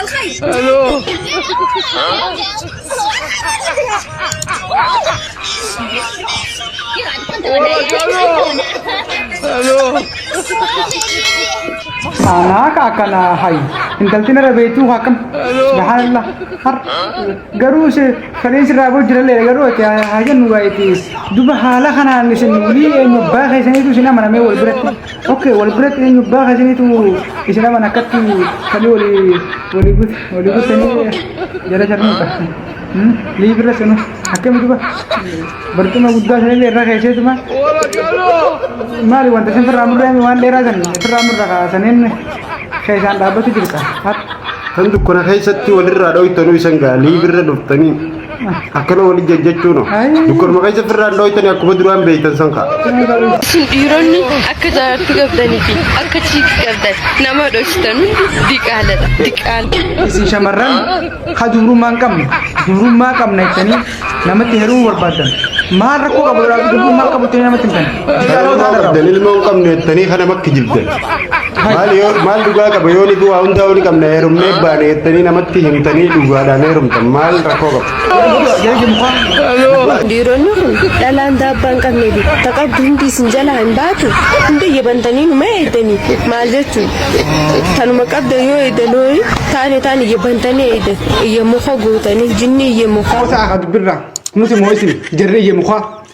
Hello. Hello. Saanaa ka akkana hayi. Intalti nara beektuu ka akkam. Subhaanallah. Har. Garuu se kaleen sirraa boo jiralle garuu ati haa jennu gaa'eetiis. Duba haala kanaan isin wulii eenyu abbaa keessaniitu isin amanamee wal biratti. Okay, wal biratti eenyu abbaa keessaniitu isin aman akkatti falii walii walii gut walii guttanii jala jarnuudha. Liibirra sanu akkami duba barcuma guddaa sanillee irra keesseetuma maali wanta isin firraa murree waan dheeraa san firraa murra kaasaniin keessaan dhaabbatu jirta. Kan dukkana keessatti walirraa dhoytanuu isan gaa liibirra dhuftanii. Akkana waliin jajjachuun dukkanuma keessa firraan dhooytanii akkuma duraan beektan san ka'a. Isin dhiironni akka jaartii qabdanii fi akka chiikii qabdan nama dhoksitan hundi diqaaladha. Diqaala. Isin shamarran ha dubrummaa hin qabne dubrummaa qabna jettanii namatti heerumuu barbaaddan maal rakkoo qabu dubrummaa qabu jettanii namatti hin Ilmoo qabdan ilmoo hin qabne jettanii kana makki jibdan. Maal yoo- maal dhugaa qaba yoo ni du'aa hundaa ni qabna heerumnee baane jettanii namatti himtanii dhugaadhaan heerumtan maal rakkoo qaba. Dhiironni kun dhalaan daabbaa hin qabne bi. Taqabdu hundi isin jalaa hin baatu. Hundi yebbantanii numa eeydanii. Maal jechuun tanuma qabda yoo eeydan hooyi taane taane yebbantanii eeydan. Iyya muka gootanii jinni iyya muka. Kosa akad birra. Nuti moisin. Jarri iyya muka.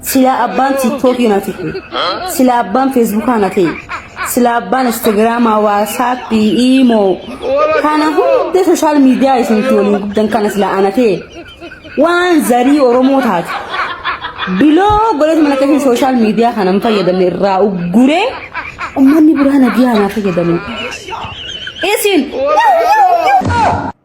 Silaa abbaan tiiktookii na ta'e. Silaa abbaan feesbuukaa na ta'e. Silaa abbaan instaagiraamaa, waasaappii, iimoo. Kana hunda sooshaal miidiyaa isinti waliin guddan kana silaa ana ta'e. Waan zarii Oromoo taate. Biloo godhatu mana keessan sooshaal miidiyaa kana hin fayyadamne irraa ugguree ummanni biraa na biyaa naa fayyadamu. Isin.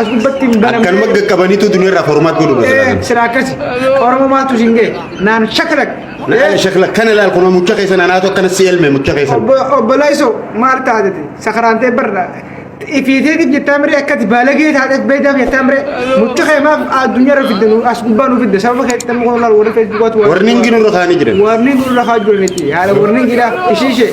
As gubbatti hin banamne. Akkanuma qaqqabaniitu duniyaarraa formaat godhu Eh, dha. sira akkasi. Oromo maaltu isin ga'e? Naan shakalak. Naan shakla kana laal kun mucha keessa naanaatu akkana si elme mucha keessa. Obbo obbo Laiso maal taatete? Sakaraantee barra. Ifiitee gid jettaa miree akkati baalagee taatee beeydaaf jettaa miree. Mucha kee maaf addunyaa irra fidde nu as gubbaa nu fidde sababa kee tamma kun laal warri feesbuukaatu. Warningi nurra kaanii jiran. Warningi nurra kaanii jiran itti haala warningi dha ishii ishee.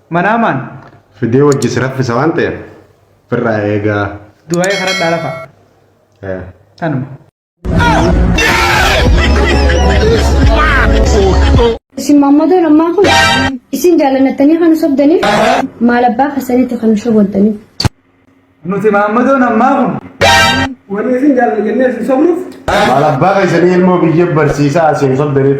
Manaamaan. Fidee wajji si raffisa waan ta'eef firraa eegaa. Du'aa'ee karadhaa lafa. Eh. Tanuma. Isin maammadoon ammaa kun isin jaallannattanii kan sobdaniif maal abbaa keessanitti kan shoboddaniif. Nuti maammadoon ammaa kun warri isin jaallanna jennee isin sobnuuf Maal abbaa keessanii ilmoo biyya barsiisaa asiin sobdaniif.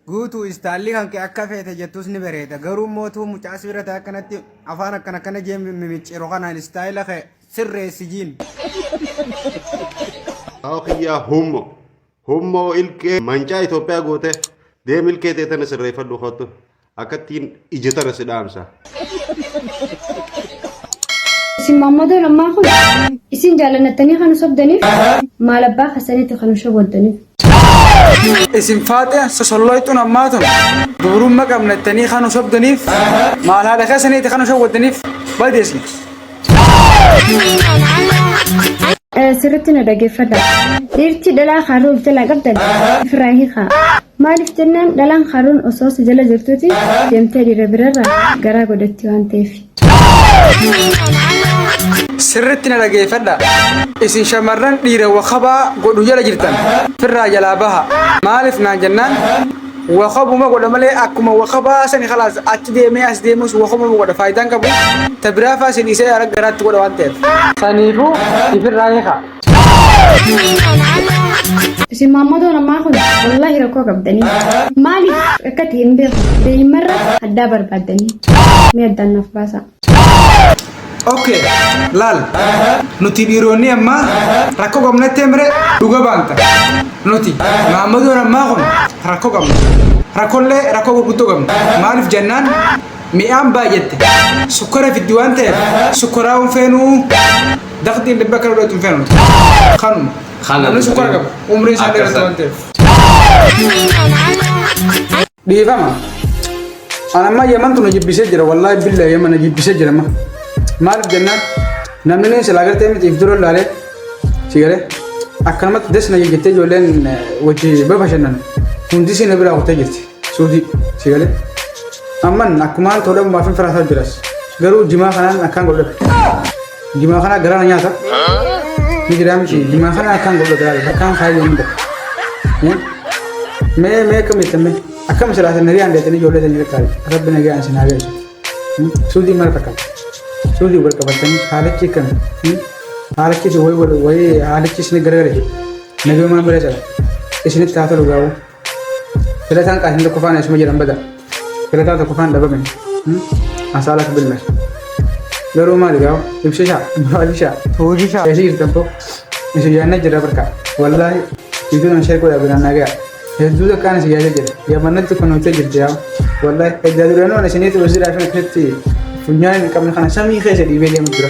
Guutuu istaalli kan kee akka feete jettus ni bareeda. Garuu mootuu mucaa sibiira ta'e akkanatti afaan akkana akkana jee mimicciiru kanaan istaayila kee sirreessi jiin. Aokiyyaa hummo. Hummoo ilkee mancaa Itoophiyaa goote deem ilkee tee tana sirreeffadhu kottu akkattiin ija tana si dhaamsa. Isin maammadoo lammaan kun isin jaalannattanii kan sobdaniif maal abbaa keessanitti kan shoboddaniif. Isin faaxee sosolloyxuun ammaa tun dubrumma qabnattanii kan sobdaniif maal haadha keessanitti kan shoboddaniif badeesni. Sirritti na dhageeffadha. Dhiirti dhalaa kaarruu of jalaa qabdan ofirraa hiikaa. Maaliif jennaan dhalaan kaarruun osoo si jala jirtuuti deemtee dhiira birarra garaa godhatti waan ta'eef. Sirritti na dhageeffadha. Isin shamarran dhiira wakabaa godhu jala jirtan ofirraa jalaa baha. Maaliif naan jennaan Wakabuma godha malee akkuma wakabaa sani kalaas achi deemee as deemus wakabuma godha faayidaa hin qabu. Ta biraa faa si dhiisee ara garaatti godha waan ta'eef. Saniifuu ifirraa hiikaa. Isin maammotoon ammaa kun wallaahi rakkoo qabdanii. Maaliif akka ta'e hin beeku. Daa'immarra addaa barbaaddanii. Mee addaan naaf baasaa. Oke, laal. Nuti dhiironni ammaa rakkoo qabnatti emre dhuga baanta. Nuti maammadoon ammaa kun rakkoo qabna. Rakkollee rakkoo gurguddoo qabna. Maaliif jennaan mi'aan baay'atte sukkara fiddi waan ta'eef sukkaraa hin feenuu daqxiin dhibba akka lolatu hin feenu. Kanuma. Kana Namni sukkara qabu umriin isaa dheeratu waan ta'eef. Dhiifama. Ana amma yaman tuna jibbisee jira wallaahi billa yamana jibbisee jira amma. Maaliif jennaan namni silaa gartee miti if dura ilaalee si garee akkanumatti desna jettee ijoolleen wajji babashannan hundi si na biraa kutee jirti suutii si garee. Amman akkumaan tola maafin firaasaa jiras garuu jimaa kanaan akkaan godhadha. Jimaa kana garaa na nyaata. Ni jiraa miti. Jimaa kana akkaan godha garaa godha. Akkaan kaayyoo hunda. Mee mee akkam jettan mee? Akkam silaasa nagaan deetanii ijoollee sanii qaqqaabe. Rabbi nagaan isin haa galchu. Suudii mara fakkaata. Suudii wal qabatanii haalichi kan haalichi isin wayii wayii haalichi isin garagale. Nabii maan bira jala. Isinitti haa tolu gaawuu. Filataan qaasni tokkoffaan eessuma jedhan bada. Filataa tokkoffaan dhabame. Asaalatu billa. Garuu maali gaa'u? Ibsishaa, maalishaa, hoojishaa. Eessi jirtan koo? Isin yaadna jira barka. Wallaahi iddoo nama sheekoo yaa biraan nagaa. Hedduu takkaan isin yaada jira. Yaamannatti kun hojjaa jirti yaa. Wallaahi eddaa duranoo isiniitu hojii laafina keessatti funyaan hin qabne kana samii keessa dhiibee deemu jira.